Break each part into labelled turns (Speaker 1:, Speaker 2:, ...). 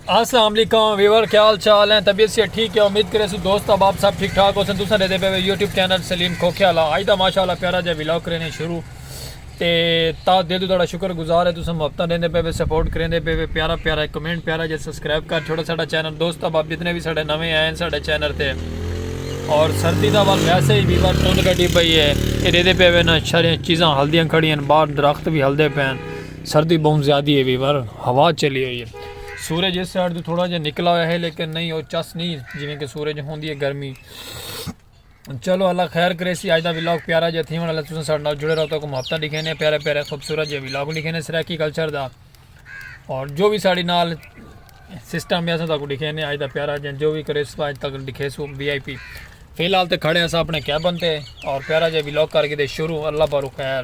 Speaker 1: السلام علیکم ویور کیا حال چال ہیں طبیعت سے ٹھیک ہے امید کرے سو دوست اب آپ سب ٹھیک ٹھاک ہو سن دوسرا دے پہ یوٹیوب چینل سلیم کھوکھے والا آج دا ماشاءاللہ پیارا جا ویلاگ کرنے شروع تے تا دے دو تھوڑا شکر گزار ہے تساں محبتاں دیندے پے وے سپورٹ کریندے پے وے پیارا پیارا کمنٹ پیارا جے سبسکرائب کر چھوڑا ساڈا چینل دوست اب آپ جتنے بھی ساڈے نویں آئے ہیں ساڈے چینل تے اور سردی دا وقت ویسے ہی بیوار تون گڈی پئی ہے اے دے دے پے وے نا شریں چیزاں ہلدیاں کھڑیاں باہر درخت بھی ہلدے پین سردی بہوں زیادی ہے ویور ہوا چلی ہوئی ہے سورج اس سائڈ تو تھوڑا جہا نکلا ہوا ہے لیکن نہیں وہ چس نہیں جی کہ سورج ہوندی ہے گرمی چلو اللہ خیر کرے سی آج دا ولاگ پیارا جا تھی والا تساں ساڈے نال جڑے رہو تو کو محبتاں لکھینے پیارے پیارے خوبصورت جے ولاگ لکھینے سرائیکی کلچر دا اور جو بھی ساڈی نال سسٹم ہے سا کو لکھینے آج دا پیارا جا جو بھی کرے سو آج تک لکھے سو وی آئی پی فی الحال تے کھڑے ہیں سا اپنے کیبن تے اور پیارا جا ولاگ کر کے دے شروع اللہ بارو خیر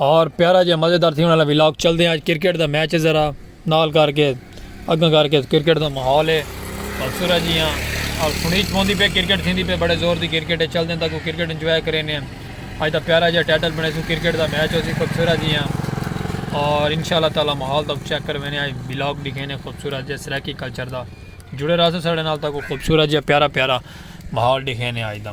Speaker 1: اور پیارا جا مزیدار تھیون والا ولاگ چلدے ہیں اج کرکٹ دا میچ ہے ذرا نال کر کے اگاں کر کے کرکٹ دا ماحول ہے سورا جی ہاں اور سنیچ پوندی پہ کرکٹ تھیندی پہ بڑے زور دی کرکٹ ہے چلدے ہیں تاکہ کرکٹ انجوائے کریں ہیں اج دا پیارا جا ٹائٹل بنے سو کرکٹ دا میچ ہو سی خوبصورا جی ہاں اور انشاءاللہ تعالی ماحول دا چیک کر میں نے آج ولاگ دکھے نے خوبصورت جی سرائکی کلچر دا جڑے رہا سو ساڑھے نال تاکہ خوبصورت جی پیارا پیارا ماحول دکھے نے آج دا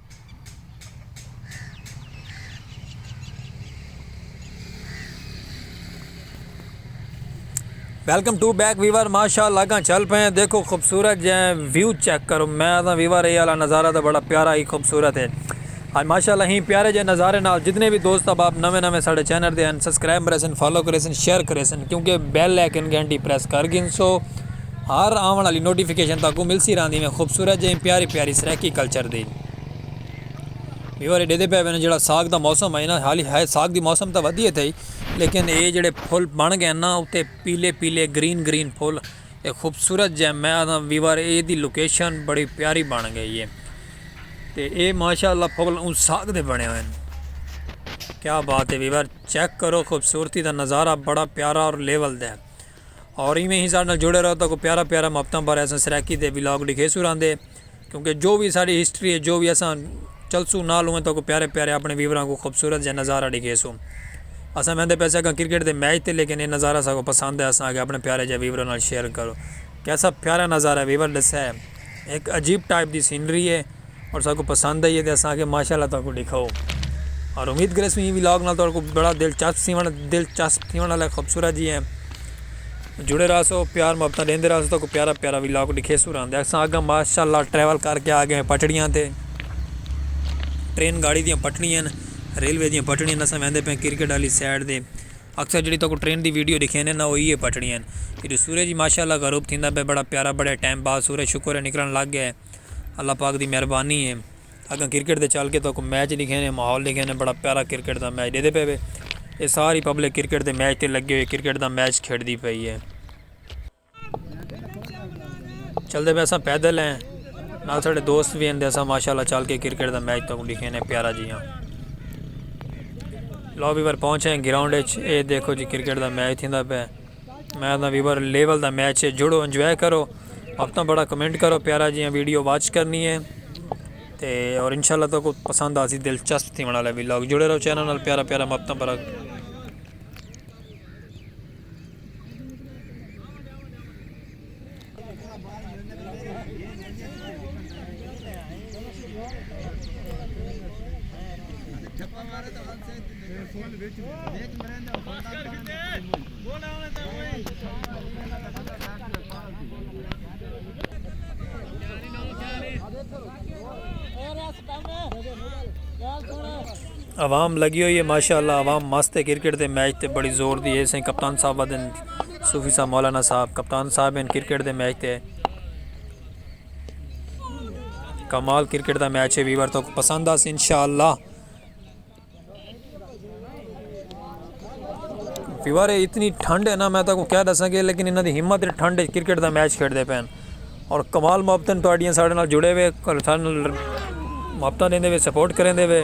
Speaker 1: ویلکم ٹو بیک ویور ماشاء اللہ گاں چل پے ہیں دیکھو خوبصورت جے ویو چیک کرو میں آدھا ویور اے والا نظارہ تو بڑا پیارا ہی خوبصورت ہے آج ماشاء اللہ ہی پیارے جے نظارے نال جتنے بھی دوست اب آپ نویں نویں ساڑھے چینل دے ہیں سبسکرائب کرے سن فالو کرے سن شیئر کرے سن کیونکہ بیل لیکن گھنٹی پریس کر گن سو ہر آون آلی نوٹیفکیشن تہاکوں ملسی رہندی میں خوبصورت جئیں پیاری پیاری سرائیکی کلچر دی ویور ایڈے دے پے وین جڑا ساگ دا موسم ہے نا حالی ہے ساگ دی موسم تاں ودھیے تھئی لیکن اے جڑے پھول بن گئے نا اتے پیلے پیلے گرین گرین پھول اے خوبصورت جئیں میں آدھا ویور اے دی لوکیشن بڑی پیاری بن گئی ہے تے اے ماشاءاللہ پھول اون ساگ دے بنے ہوئے کیا بات ہے ویور چیک کرو خوبصورتی دا نظارہ بڑا پیارا اور لیول دے ہیں اور ایویں ہی ساڈے نال جڑے رہو تاکو پیارا پیارا محبتاں بارے اساں سرائیکی تے ولاگ ڈکھیسوں راندے کیونکہ جو وی ساڈی ہسٹری ہے جو وی اساں چلسوں نال اوویں تاکو پیارے پیارے اپنے ویوراں کو خوبصورت جیہا نظارہ ڈکھیسوں اساں ویندے پے سیکاں کرکٹ دے میچ تے لیکن اے نظارہ ساکو پسند ہے اساں آکھیا اپنے پیارے جیہے ویوراں نال شیئر کرو کیسا پیارا نظارہ ہے ویور ڈسے ہک عجیب ٹائپ دی سینری ہے۔ اور ساکوں پسند آئی ہے تے اساں آکھیا ماشاءاللہ تہاکوں ڈکھاؤ اور امید کریسوں ایں ولاگ نال تہاڈے کوں بڑا دلچسپ تھیونڑ دلچسپ تھیونڑ والا ہے خوبصورت جی ہے جڑے رہسو پیار محبتاں ڈیندے رہسو تہاکوں پیارا پیارا ولاگ ڈکھیسوں راں دے اساں اگاں ماشاءاللہ ٹریول کر کے آگئے ہیں پٹڑیاں تے ٹرین گاڑی دیاں پٹڑیاں ہن ریلوے دیاں پٹڑیاں ہن اساں ویندے پئے ہیں کرکٹ والی سائیڈ تے اکثر جیہڑی تہاکوں ٹرین دی ویڈیو ڈکھینے نا او ایہی پٹڑیاں ہن جدوں سورج ماشاءاللہ غروب تھیندا پئے بڑا پیارا بڑے ٹائم بعد سورج شکر ہے نکلنڑ لگ گئے اللہ پاک دی مہربانی ہے اگاں کرکٹ دے چل کے تہاکو میچ ڈیکھے نے ماحول ڈیکھے نے بڑا پیارا کرکٹ دا میچ ڈیدے پے وے اے ساری پبلک کرکٹ دے میچ تے لگے ہوئے کرکٹ دا میچ کھیڈ دی پئی ہے چلدے پے اساں پیدل ہیں نال ساڈے دوست وی ہیں اساں ماشاءاللہ چل کے کرکٹ دا میچ تہاکو ڈیکھے نے پیارا جی ہاں لوبی پر پہنچے ہیں گراؤنڈ اچ اے دیکھو جی کرکٹ دا میچ تھیندا پے۔ میں آدھاں ویور لیول دا میچ ہے جڑو انجوائے کرو وقتاں بڑا کمنٹ کرو پیارا جیاں ویڈیو واچ کرنی ہے تے اور انشاءاللہ تو کو پسند آسی دلچسپ تھی والا ویلاگ جڑے رہو چینل نال پیارا پیارا مقتاں بڑا عوام لگی ہوئی ہے ماشاءاللہ عوام مست ہے کرکٹ دے میچ تے بڑی زور دی ہے سائیں کپتان صاحب ودن صوفی صاحب مولانا صاحب کپتان صاحب ہن کرکٹ دے میچ تے کمال کرکٹ دا میچ ہے ویور تو پسند آس انشاءاللہ ویور اتنی ٹھنڈ ہے نا میں تاکو کیا دساں گے لیکن انہاں دی ہمت ٹھنڈ ہے کرکٹ دا میچ کھیڑ دے پین اور کمال محبتن تو آڈیاں ساڑھے نال جڑے ہوئے کمال محبتن دے دے سپورٹ کریں دے ہوئے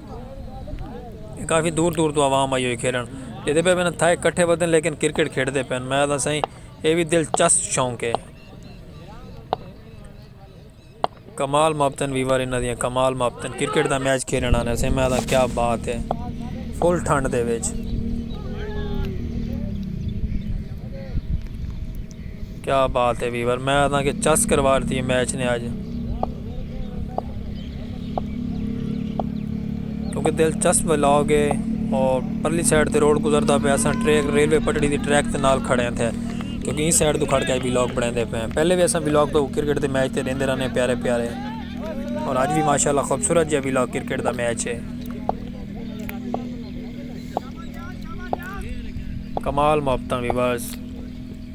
Speaker 1: کافی دور دور تو عوام آئی ہوئی کھیڈݨ جیندے پئے ہن تھائے کٹھے ودن لیکن کرکٹ کھیڈدے پئے ہن میں آکھداں سائیں اے وی دلچسپ شوق ہے۔ کمال ماپتن ویور انہاں دیاں کمال ماپتن کرکٹ دا میچ کھیڈݨ آندے سائیں میں آکھداں کیا بات ہے فل ٹھنڈ دے وچ۔ کیا بات ہے ویور میں آدھاں کہ چس کروا ڈتی ہے میچ نے اج کیونکہ دلچسپ ولاگ ہے اور پرلی سائڈ تے روڈ گزردا پیا اساں ٹریک ریلوے پٹڑی دی ٹریک تے نال کھڑے ہیں تھے کیونکہ این سائڈ تو کھڑ کے ولاگ بنے دے پے ہیں پہلے بھی اساں ولاگ تو کرکٹ دے میچ تے دیندے رہنے پیارے پیارے اور اج بھی ماشاءاللہ خوبصورت جے ولاگ کرکٹ دا میچ ہے کمال محبتاں ویورز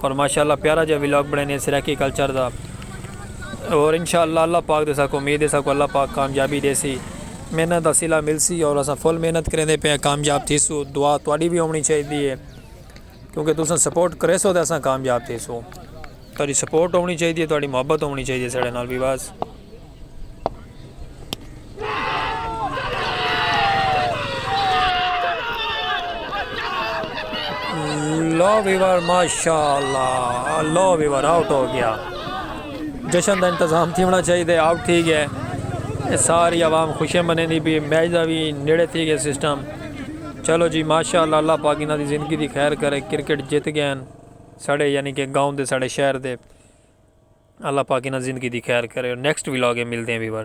Speaker 1: اور ماشاء اللہ پیارا جا ولاگ بنڑینے سرائیکی کلچر دا اور انشاء اللہ اللہ پاک دے ساکوں امید ہے ساکوں اللہ پاک کامیابی دیسی محنت دا صلہ ملسی اور اساں فل محنت کریندے پئے آں کامیاب تھیسو دعا تہاڈی وی ہونی چاہیدی ہے کیونکہ تساں سپورٹ کریسو تے اساں کامیاب تھیسوں تہاڈی سپورٹ ہونی چاہیدی ہے تہاڈی محبت ہونی چاہیدی ہے ساڈے نال وی بس۔ لو ویور ماشاء اللہ لو ویور آؤٹ ہو گیا جشن دا انتظام تھی ہونا چاہیے دے آؤٹ تھی گئے ساری عوام خوشیں بنے دی بھی میچ دا بھی نیڑے تھی گئے سسٹم چلو جی ماشاء اللہ اللہ پاکینہ دی زندگی دی خیر کرے کرکٹ جت گئے ہیں ساڑھے یعنی کہ گاؤں دے ساڑھے شہر دے اللہ پاک انہاں زندگی دی خیر کرے اور نیکسٹ ولاگ اے ملدے ہیں ویور۔